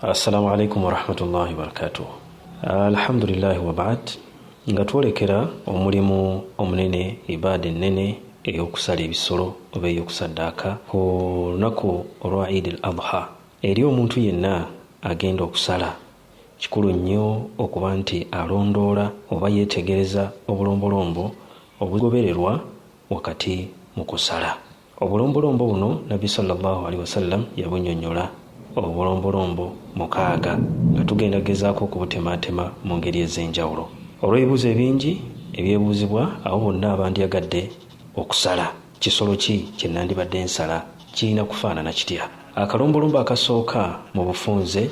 assalamu alaikum warahmatullahi wabarakatuh alhamdulillahi wabaad nga twolekera omulimu omunene ibaada ennene ey'okusala ebisolo oba ey'okusaddaaka ku lunaku olwa idi al adha eri omuntu yenna agenda okusala kikulu nnyo okuba nti alondoola oba yeetegereza obulombolombo obugobererwa wakati mu kusala Obulombolombo buno Nabbi sallallahu alaihi wasallam yabunyonyola obulombolombo mukaaga nga tugenda gezaako okubutemaatema mu ngeri ez'enjawulo. Olw'ebibuuzo ebingi ebyebuuzibwa abo bonna abandyagadde okusala kisolo ki kye nandibadde nsala kirina kufaanana kitya? Akalombolombo akasooka mu bufunze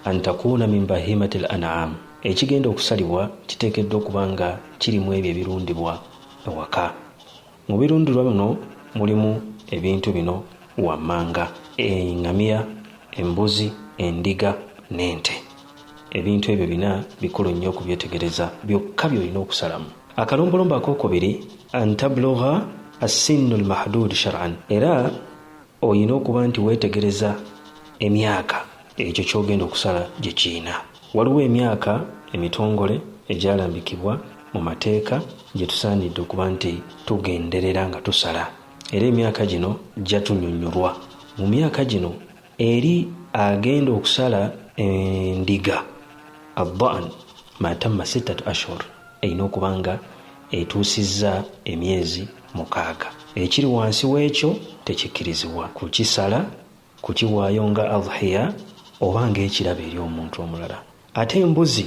antakuuna min bahimati l an'am ekigenda okusalibwa kiteekeddwa okuba nga kiri mw'ebyo ebirundibwa ewaka. Mu birundirwa bino mulimu ebintu bino wammanga, engamiya, embuzi, endiga n'ente. Ebintu ebyo bina bikulu nnyo okubyetegereza, byokka by'olina okusalamu. Akalombolombo akookubiri, an tablugha assinnu lmahduud shar'an, era olina okuba nti weetegereza emyaka ekyo ky'ogenda okusala gye kirina. Waliwo emyaka emitongole egyalambikibwa mu mateeka gye tusaanidde okuba nti tugenderera nga tusala, era emyaka gino gya tunyonyolwa. Mu myaka gino eri agenda okusala endiga, Adhan, ma tamma sittatu ashhur, erina okuba nga etuusizza emyezi mukaaga. Ekiri wansi w'ekyo tekikkirizibwa kukisala kukiwaayo nga adhiya oba ng'ekirabo eri omuntu omulala ate embuzi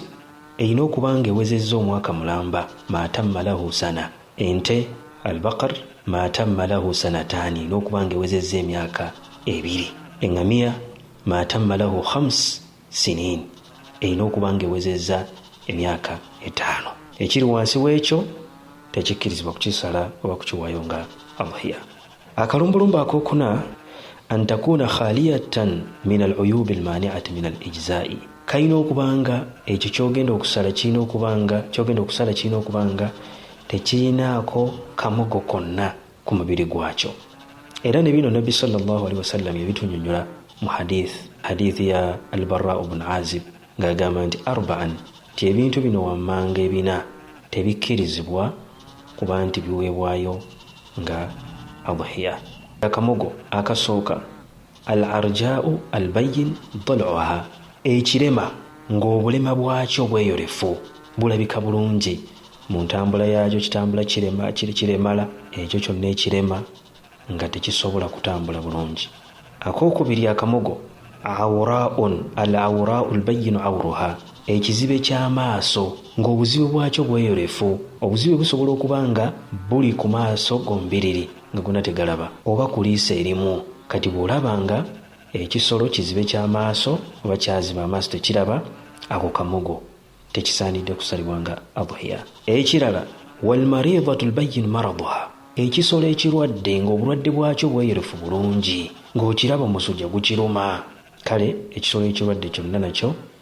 erina okuba ng'ewezezza omwaka mulamba maatamma lahu sana ente albakar maatamma lahu sanataani erina okuba ng'ewezezza emyaka ebiri eŋŋamiya maatamma lahu khams siniin, erina okuba nga ewezezza emyaka etaano. Ekiri wansi w'ekyo tekikkirizibwa kukisala oba kukiwaayo nga adhiya. Akalumbulumba akokuna an takuuna khaliyatan min al uyuubi al maaniati min al ijzaa'i, kalina okuba nga ekyo ky'ogenda okusala kirina okuba nga ky'ogenda okusala kirina okuba nga tekirinaako kamogo konna ku mubiri gwakyo era ne bino nabbi salllah alihi wasallam yebitunyonyola mu hadith hadith ya albarra bun azib ng'agamba nti arbaan nti ebintu bino wammanga ebina tebikkirizibwa kuba nti biweebwayo nga adhiya akamogo akasooka al arjau al bayin doluha ekirema ng'obulema bwakyo bweyolefu bulabika bulungi mu ntambula yaakyo kitambula kirema kiremala ekyo kyonna ekirema nga tekisobola kutambula bulungi akokubiri akamogo awuraun al awurau lbayinu awuruha ekizibe ky'amaaso ng'obuzibe bwakyo bweyolefu obuzibe busobola okuba nga buli ku maaso gombiriri nga gona tegalaba oba kuliisa erimu kati bwolaba nga ekisolo kizibe kyamaaso oba kyaziba amaaso tekiraba ako kamogo tekisaanidde kusalibwa nga adhiya ekirala walmaridatu lbayin maraduha ekisolo ekirwadde ngaobulwadde bwakyo bweyolefu bulungi ngaokiraba omusujja gukiruma kale ekisolo ekirwadde kyonna nakyo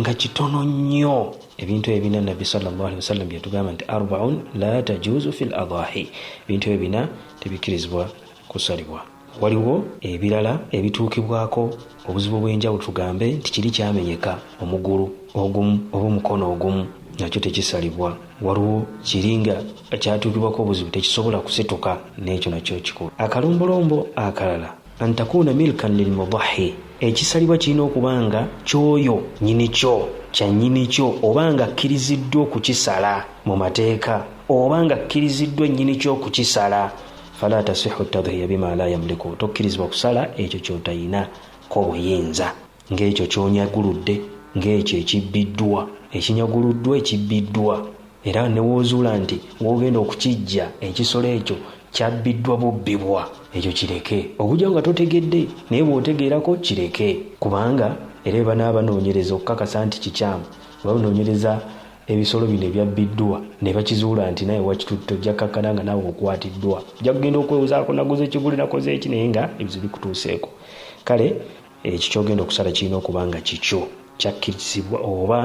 nga kitono nnyo ebintu ebina nabbi sawasalam byetugamba nti arbaun la tajuzu fi ladahi ebintu ebyo bina tebikkirizibwa kusalibwa waliwo ebirala ebituukibwako obuzibu bw'enjawulo tugambe nti kiri kyamenyeka omugulu ogumu oba omukono ogumu nakyo tekisalibwa waliwo kiringa kyatuukibwako obuzibu tekisobola kusituka n'ekyo nakyo kikulu akalombolombo akalala antakuuna milkan lilmudahi ekisalibwa kirina okuba nga kyoyo nyini kyo kya nyini kyo oba nga akkiriziddwa okukisala mu mateeka oba nga akkiriziddwa nyini kyo okukisala fala tasihu tadhiya bima la yamliku tokkirizibwa kusala ekyo kyotayina ko buyinza Ng'ekyo ky'onyaguludde, ng'ekyo ekibbiddwa, ekinyaguluddwa, ekibbiddwa, era ne w'ozuula nti w'ogenda okukiggya ekisolo ekyo kyabbiddwa bubbibwa, ekyo kireke. Okuggyako nga totegedde, naye bw'otegeerako, kireke. Kubanga, era bwe banaaba banoonyereza okukakasa nti kikyamu, bwe banoonyereza ebisolo bino ebyabbiddwa, ne bakizuula nti naawe wakitutte, ojja kkakkana nga naawe okwatiddwa. Ojja kugenda okwewozaako, Naguze kiguli, nakoze ki, naye nga ebizibu bikutuuseeko. Kale. Ekyo ky'ogenda okusala kirina okuba nga kikyo, kyakkirizibwa oba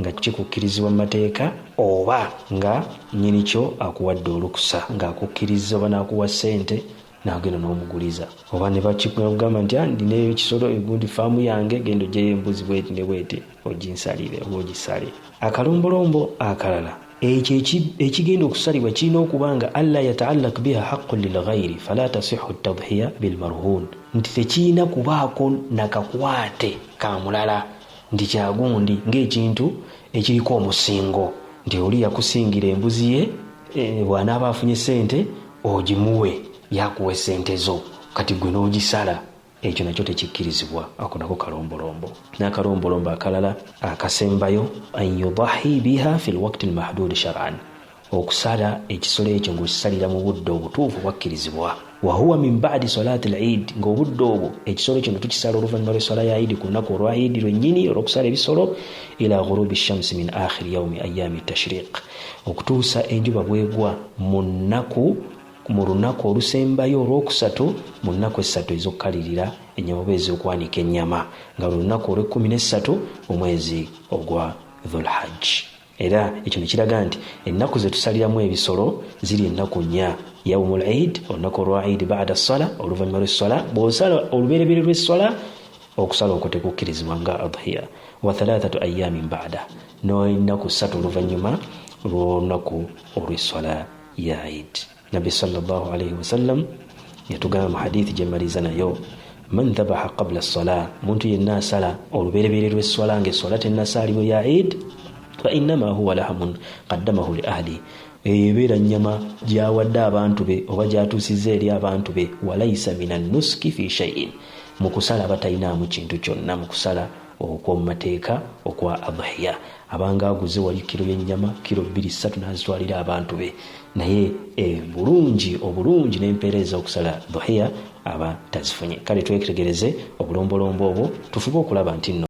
nga kikukkirizibwa mu mateeka oba nga nnyini kyo akuwadde olukusa ng'akukkirizza oba n'akuwa ssente n'agenda n'omuguliza oba ne bakigamba nti ah, ndina ekisolo egundi faamu yange genda oggyeyo embuzi bweti ne bweti oginsalire oba ogisale akalombolombo akalala ekyo ekigenda okusalibwa kirina okuba nga alla yataallak biha haqqun lilghairi fala tasihu tadhiya bilmarhun nti tekirina kubaako nakakwate ka mulala nti kyagundi ng'ekintu ekiriko omusingo nti oli yakusingira embuzi ye eh, bw'anaaba afunye ssente ogimuwe yakuwa essente zo kati gwe n'ogisala ekyo nakyo tekikkirizibwa ako nako kalombolombo n'akalombolombo akalala akasembayo an yudahi biha fi lwakti lmahdudi sharan okusala ekisolo ekyo ng'okisalira mu budde obutuufu bwakkirizibwa wahuwa min badi solati lid ng'obudde obwo ekisolo kino tukisala oluvannyuma lw'eswala ya idi ku lunaku olwa idi lwennyini olw'okusala ebisolo ila ghurubi shamsi min akhiri yaumi ayami tashriq okutuusa enjuba bwegwa mu nnaku Mu lunaku olusembayo olwokusatu mu nnaku essatu ez'okukalirira ennyama oba ez'okwanika ennyama, nga lwe lunaku olw'ekkumi n'essatu mu mwezi ogwa Dhul-Hajji. Era ekyo ne kiraga nti ennaku ze tusaliramu ebisolo ziri ennaku nnya, Yawmul Eid, olunaku olwa Eid, Ba'da Ssala, oluvannyuma lw'esswala, bw'osala olubereberye lw'esswala, okusala okwo tekukkirizibwa nga Adhiya, wa thalathatu ayyaamin ba'da, n'ennaku ssatu oluvannyuma lw'olunaku olw'esswala. ya id nabbi salllah alaihi wasallam yatugamba mu hadithi gyemmaliza nayo man dhabaha qabla sala omuntu yenna asala olubereberye lwesswala nga esswala tennasaalibwa ya id fainama huwa lahamun qaddamahu li ahli eyo ebeera nnyama gyawadde abantu be oba gyatuusizza eri abantu be walaisa min annuski fi shaiin mu kusala aba talinaamu kintu kyonna mu kusala okw'omu mateeka okwa adhiya abanga aguze wali kiro y'ennyama kiro bbiri ssatu n'azitwalira abantu be naye ebulungi eh, obulungi n'empeera ez'okusala dhuhiya aba tazifunye kale twetegereze obulombolombo obwo tufube okulaba nti nno